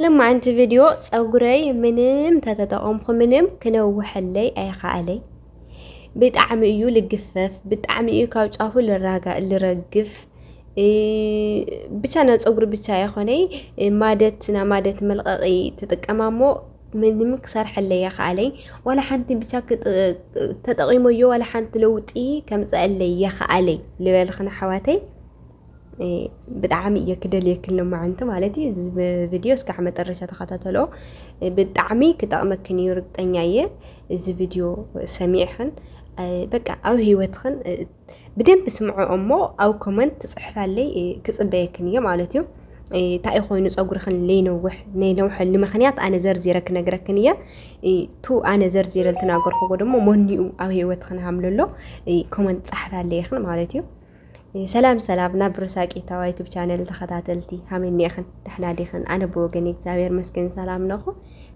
ለማዓንቲ ቪድዮ ፀጉረይ ምንም ተተጠቐምኹ ምንም ክነውሐለይ ኣይኸኣለይ ብጣዕሚ እዩ ልግፈፍ ብጣዕሚ እዩ ካብ ጫፉ ልረግፍ ብቻ ናይ ፀጉሪ ብቻ የኾነይ ማደት ና ማደት መልቐቒ ትጥቀማ እሞ ምንም ክሰርሐለይ የኸኣለይ ዋላ ሓንቲ ብቻ ተጠቒሞዮ ዋላ ሓንቲ ለውጢ ከምፀአለይ የኸኣለይ ልበልኽን ኣሕዋተይ ብጣዕሚ እየ ክደልየኪ ሎማዓንቲ ማለት እዩ እዚ ቪድዮ እስካዕ መጠረሻ ተኸታተሎ ብጣዕሚ ክጠቕመክን እዩ ርግጠኛ እየ እዚ ቪድዮ ሰሚዕኽን በቃ ኣብ ህይወትኽን ብደንብ ስምዖ እሞ ኣብ ኮመንት ትፅሕፋለይ ክፅበየክን እየ ማለት እዩ እንታይ ኮይኑ ፀጉርኽን ለይነውሕ ነይነውሐሉ ምክንያት ኣነ ዘርዚረ ክነግረክን እየ ቱ ኣነ ዘርዚረ ልትናገርክዎ ደሞ ሞኒኡ ኣብ ህይወትኽን ሃምለሎ ኮመንት ፀሓፋለይኽን ማለት እዩ ሰላም ሰላም ናብ ብርሳቂታዋ ዩቱብ ቻነል ተኸታተልቲ ከመይ እኒኤኽን ደሕና ዲኽን? ኣነ ብወገን እግዚኣብሔር መስገን ሰላም ነኹ።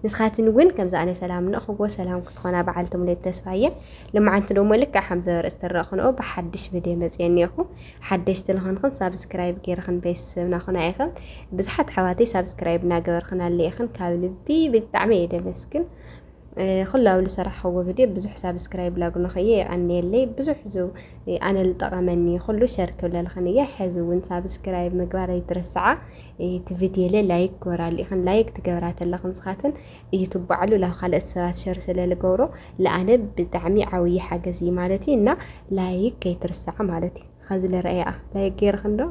ንስኻትን እውን ከምዚ ኣነ ሰላም ነኽዎ ሰላም ክትኾና በዓልቲ ሙሌት ተስፋ እየ። ልምዓንቲ ደሞ ልክዕ ከም ዘበርእስ ትረኽንኦ ብሓድሽ ቪድዮ መፅየ እኒኤኹ። ሓደሽቲ ልኾንኽን ሳብስክራይብ ገይርኽን ቤተሰብና ኹና ኢኽን። ብዙሓት ኣሕዋተይ ሳብስክራይብ እናገበርኽን ኣለኢኽን ካብ ልቢ ብጣዕሚ እየ ደመስግን። ኹላዊ ዝሰራሕኽዎ ቪድዮ ብዙሕ ሳብስክራይብ ላጉነኸ እየ የቐንየለይ ብዙሕ ዙ ኣነ ዝጠቐመኒ ኹሉ ሸር ክብለልኽን እየ ሕዚ እውን ሳብስክራይብ ምግባር ኣይትርስዓ እቲ ቪድዮለ ላይክ ጎራሊእኽን ላይክ ትገብራ ተለኽን ስኻትን ዩቱብ ባዕሉ ላብ ካልኦት ሰባት ሸር ስለ ዝገብሮ ለኣነ ብጣዕሚ ዓብዪ ሓገዝ እዩ ማለት እዩ እና ላይክ ከይትርስዓ ማለት እዩ ኸዚ ለረኣያ ላይክ ገይርኽን ዶ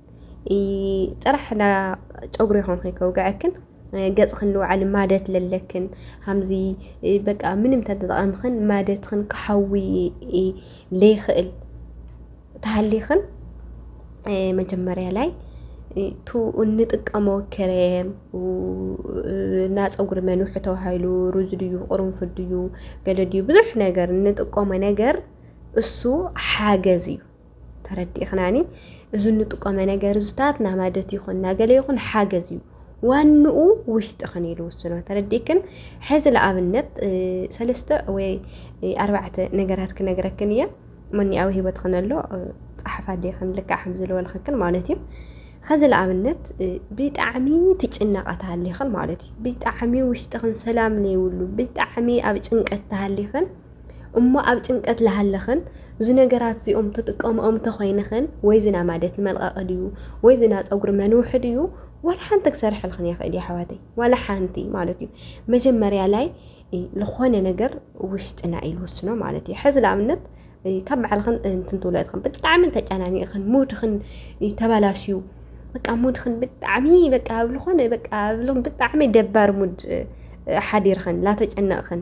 ጥራሕ ላ ፀጉሪ ይኾን ከይከውግዐክን ገፅኽን ንውዓሊ ማደት ለለክን ሃምዚ በቃ ምንም ተጠቐምኽን ማደትኽን ክሓዊ ለይኽእል ተሃሊኽን መጀመሪያ ላይ ቱ እንጥቀሞ ክሬም እና ፀጉሪ መኑሒ ተባሂሉ ሩዝ ድዩ ቅርንፉድ ድዩ ገለ ድዩ ብዙሕ ነገር እንጥቀሞ ነገር እሱ ሓገዝ እዩ ተረዲእኽናኒ እዚ እንጥቀመ ነገር እዚታት ናማደት ይኹን ናገለ ይኹን ሓገዝ እዩ ዋንኡ ውሽጥኽን እዩ ዝውስኖ ተረዲእክን ሕዚ ንኣብነት ሰለስተ ወይ ኣርባዕተ ነገራት ክነግረክን እየ መኒኣዊ ሂወት ክነሎ ፃሓፋ ዴኽን ልክዕ ከም ዝለወልኽክን ማለት እዩ ኸዚ ንኣብነት ብጣዕሚ ትጭነቃ ተሃሊኽን ማለት እዩ ብጣዕሚ ውሽጥኽን ሰላም ነይብሉ ብጣዕሚ ኣብ ጭንቀት ተሃሊኽን እሞ ኣብ ጭንቀት ላሃለኽን እዙ ነገራት እዚኦም ትጥቀምኦም ተኾይንኽን ወይ ዝና ማደት መልቐቒ ድዩ ወይ ዝና ፀጉሪ መንውሒ ድዩ ዋላ ሓንቲ ክሰርሐልኽን የኽእል የሕዋተይ ዋላ ሓንቲ ማለት እዩ መጀመርያ ላይ ዝኾነ ነገር ውሽጥና እዩ ዝውስኖ ማለት እዩ ሕዚ ንኣብነት ካብ በዓልኽን እንትን ትውለጥኽን ብጣዕሚ ተጨናኒቕኽን ሙድኽን ተበላሽዩ በቃ ሙድኽን ብጣዕሚ በቃ ኣብ ዝኾነ በቃ ብጣዕሚ ደባር ሙድ ሓዲርኽን ላተጨነቕኽን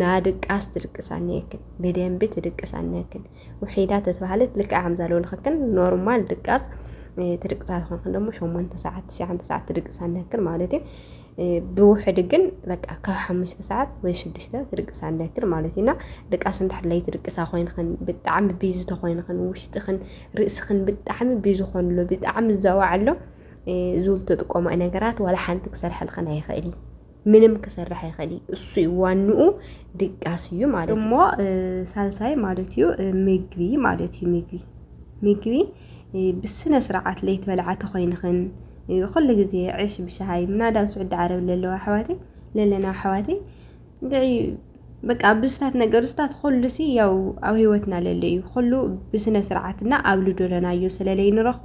ናድቃስ ትድቅሳኒክን ብደንቢ ትድቅሳኒክን ውሒዳ ተተባህለት ልክዕ ከምዛ ልብልክክን ኖርማል ድቃስ ትድቅሳ ዝኾንክን ደሞ ሸሞንተ ሰዓት ትሽዓንተ ሰዓት ትድቅሳኒክን ማለት እዩ ብውሕድ ግን በቃ ካብ ሓሙሽተ ሰዓት ወይ ሽዱሽተ ትድቅሳ ኣለክን ማለት እዩና ድቃስ እንድሕር ለይቲ ድቅሳ ኮይንክን ብጣዕሚ ቢዚ ተኮይንክን ውሽጥክን ርእስክን ብጣዕሚ ቢዚ ኮንሎ ብጣዕሚ ዘዋዕሎ ዝብሉ ተጥቀማእ ነገራት ዋላ ሓንቲ ክሰርሐልክን ኣይኽእል እዩ ምንም ክሰርሕ ኣይኽእል እዩ። እሱ እዩ ዋንኡ ድቃስ እዩ ማለት እዩ። እሞ ሳልሳይ ማለት እዩ ምግቢ ማለት እዩ ምግቢ ምግቢ ብስነ ስርዓት ለይቲ በልዓ ተኾይንኽን ኩሉ ግዜ ዕሽ ብሻሃይ ምናዳብ ስዑዲ ዓረብ ለለዋ ኣሕዋተይ ለለና ኣሕዋተይ ድዒ በቃ ብዙታት ነገርታት ኩሉ ሲ ያው ኣብ ህይወትና ለለ እዩ ኩሉ ብስነ ስርዓትና ኣብ ልዶለናዮ ስለለይ ንረኽቦ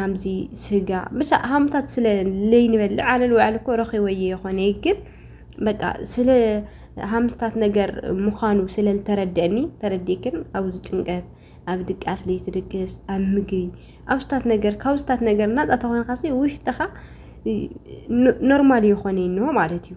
ሃምዚ ስጋ ምሳ ሃምታት ስለ ለይንበልዕ ኣነ ንባዕሉ እኮ ረኺበዮ ይኾነ ግን በቃ ስለ ሃምስታት ነገር ምዃኑ ስለ ዝተረድአኒ ተረዲእክን ኣብዚ ጭንቀት ኣብ ድቃስ ለይትድቅስ ኣብ ምግቢ ኣብ ስታት ነገር ካብ ስታት ነገር ናፃ ተኾንካሲ ውሽጥኻ ኖርማል ይኾነ እንሆ ማለት እዩ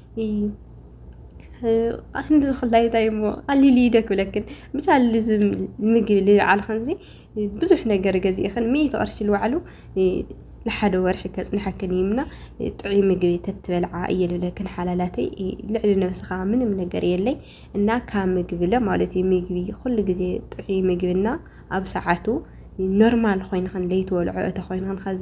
ኣንድ ዝክላይ ታይ እሞ ኣሊሊ ዶ ክብለክን ብቻ ምግቢ ልበዓልክንዚ ብዙሕ ነገር ገዚእክን ሚእቲ ቅርሺ ልውዓሉ ንሓደ ወርሒ ከፅንሐክን እዩ እምና ጥዑይ ምግቢ ተትበልዓ እየ ልብለክን ሓላላተይ ልዕሊ ነብሲ ከዓ ምንም ነገር የለይ እና ካብ ምግቢ ለ ማለት እዩ ምግቢ ኩሉ ግዜ ጥዑይ ምግብና ኣብ ሰዓቱ ኖርማል ኮይንክን ለይትበልዖ እተ ኮይንክን ከዚ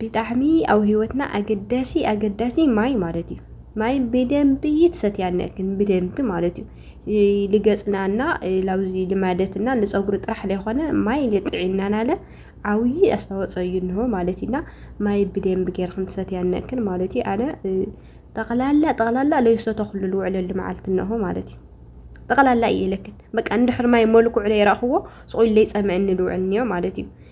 ብጣዕሚ ኣብ ህይወትና ኣገዳሲ ኣገዳሲ ማይ ማለት እዩ። ማይ ብደንቢ ትሰትያ ኣለክን ብደንቢ ማለት እዩ ልገፅናና ላብዚ ልማደትና ንፀጉሪ ጥራሕ ለይኮነ ማይ ልጥዒናና ለ ዓብዪ ኣስተዋፅኦ እዩ እንሆ ማለት እዩና ማይ ብደንቢ ጌርክን ትሰትያ ኣለክን ማለት እዩ ኣነ ጠቕላላ ጠቕላላ ለይሶቶ ኩሉ ልውዕለሉ መዓልቲ እንሆ ማለት እዩ ጠቕላላ እየ ለክን በቃ እንድሕር ማይ መልኩዕ ለይረእኽዎ ስቑኢለይ ፀመአኒ ልውዕል እኒኦ ማለት እዩ።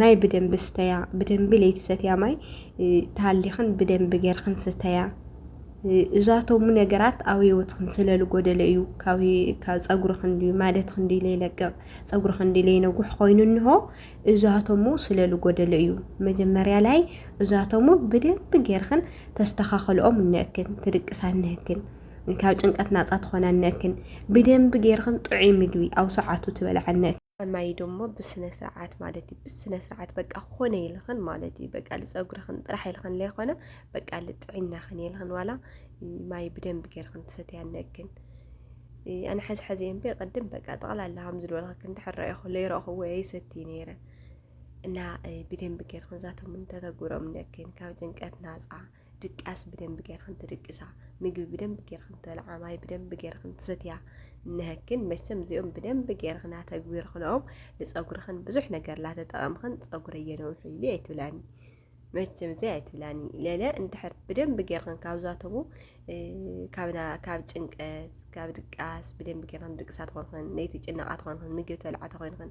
ማይ ብደንቢ ስተያ ብደንቢ ለይቲ ሰትያ ማይ ተሃሊኽን ብደንቢ ጌርክን ስተያ እዛቶሙ ነገራት ኣብ ህይወትክን ስለዝጎደለ እዩ ካብ ፀጉሪ ክንዲ ማለት ክንዲ ለይለቅቕ ፀጉሪ ክንዲ ለይነጉሕ ኮይኑ እንሆ እዛቶሙ ስለዝጎደለ እዩ መጀመርያ ላይ እዛቶሙ ብደንቢ ጌርክን ተስተኻኸልኦም እነእክን ትድቅሳ እነህክን ካብ ጭንቀት ናፃ ትኾና እነእክን ብደንቢ ጌርክን ጥዑይ ምግቢ ኣብ ሰዓቱ ትበልዓ እነእክን ማይ ደሞ ብስነ ስርዓት ማለት እዩ ብስነ ስርዓት በቃ ኾነ ኢልኽን ማለት እዩ በቃ ፀጉርኽን ጥራሕ ኢልኽን ለይኾነ በቃ ልጥዕናኽን ኢልኽን ዋላ ማይ ብደንብ ጌርኽን ትሰትያ ነግን ኣነ ሓዚ ሓዚ እምበ ቅድም በቃ ጠቕላላ ከም ዝልበልኽክ እንድሕር ረኣኹ ለይረእኹዎ ይሰቲ ነይረ እና ብደንብ ጌርኽን ዛቶም እንተተግብሮም ነግን ካብ ጭንቀት ናፃ ድቃስ ብደንቢ ገይርክን ትድቅሳ፣ ምግቢ ብደንቢ ገይርክን ትበልዓ፣ ማይ ብደንቢ ገይርክን ትሰትያ እነሀክን። መቸም እዚኦም ብደንቢ ገይርክን ኣተግቢርክንኦም ንፀጉርክን ብዙሕ ነገር ላተጠቐምክን ፀጉረ የነውሑ ኢሉ ኣይትብላኒ መቸም እዚ ኣይትብላኒ ለለ እንድሕር ብደንቢ ገይርክን ካብዛተሙ ካብና ካብ ጭንቀት ካብ ድቃስ ብደንቢ ገይርክን ድቅሳ ትኾንክን ነይቲ ጭነቓ ትኾንክን ምግቢ ተልዓ ተኾይንክን